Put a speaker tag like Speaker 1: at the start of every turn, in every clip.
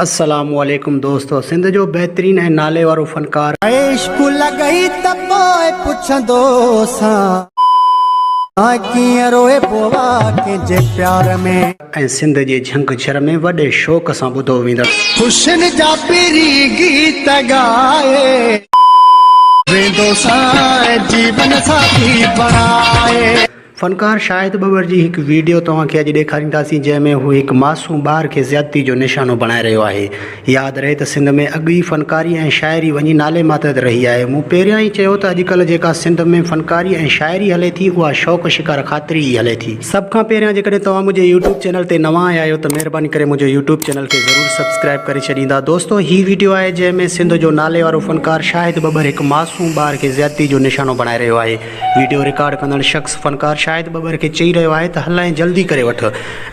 Speaker 1: السلام عليڪم دوستو سنڌ جو بهترين ۽ نالي وارو فنڪار. عشق لڳئي
Speaker 2: ته پوء پڇندو سان. ڪيئن روئبو آ ڪنهن جي پيار ۾. ۽ سنڌ جي جهنگ
Speaker 1: جھر ۾ وڏي شوق سان ٻڌو ويندڙ. خوشين جا
Speaker 2: پري گيت ڳائي. ويندو سان ۽ جيون ساٿي بڻائي. فنڪار
Speaker 1: شاهد ٻٻر جي هڪ ويڊيو توهان کي اڄ ڏيکارينداسين جنهن ۾ هو هڪ معصوم ٻار کي زيادتي جو نشانو بڻائي رهيو آهي ياد رهي ته سنڌ ۾ اڳ ئي فنڪاري ۽ شاعري وڃي نالي ماتحت رهي آهي مون پهريان ئي چيو ته اڄڪلهه جيڪا سنڌ ۾ فنڪاري ۽ شاعري هلي ٿي اها شوق شڪار خاطري ئي هلي ٿي. سڀ کان پهريان جيڪڏهن توهان منهنجي يوٽيوب چينل تي نوان آيا آهيو ته مهرباني ڪري منهنجو يوٽيوب چينل کي ضرور سبسڪرائيب ڪري ڇڏيندا دوستو هي ويڊيو آهي جنهن ۾ سنڌ جو ناليوارو فنڪار شاهد ٻٻر هڪ معصوم ٻار کي زيادتي جو نشانو بڻائي رهيو آهي وڊيو رڪارڊ ڪندڙ شخص فنڪار شاهد ٻٻر کي چئي رهيو آهي ته هلائين جلدي ڪري وٺ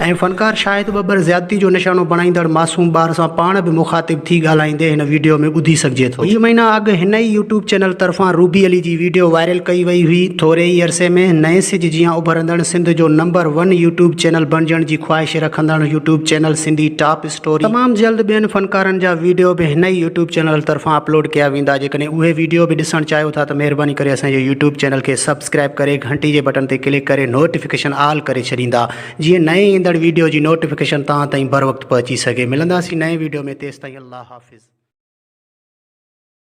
Speaker 1: ۽ فنڪار شاهد ٻٻر زيادتي جو نشانو بڻائيندڙ معصوم ٻار سان پاڻ به مخاطب ٿي ڳالهائيندي هن وڊيو ۾ ٻڌي سگهجي ٿو. ڪجهه مهينا اڳ هن ئي يوٽيوب چينل طرفان روبي علي جي وڊيو وائرل ڪئي وئي هئي. ٿوري ئي عرصي ۾ نئين سج جيان اڀرندڙ سنڌ جو نمبر ون يوٽيوب چينل بڻجڻ جي خواهش رکندڙ يوٽيوب چينل سنڌي ٽاپ تمام جلد ٻين فنڪارن جا ويڊيو به هن ئي يوٽيوب چينل طرفان اپلوڊ ڪيا ويندا جيڪڏهن اهي ويڊيو به ڏسڻ چاهيو ٿا ته مهرباني ڪري اسان جي يوٽيوب چينل کي سبسڪرائب ڪري گهنٽي جي بٽڻ تي ڪلڪ ڪري نوٽيفڪيشن آل ڪري ڇڏيندا جيئن نئين ايندڙ ويڊيو جي نوٽيفڪيشن توهان تائين بروقت پهچي سگهي ملنداسين نئين ويڊيو ۾ تيستائين الله حافظ.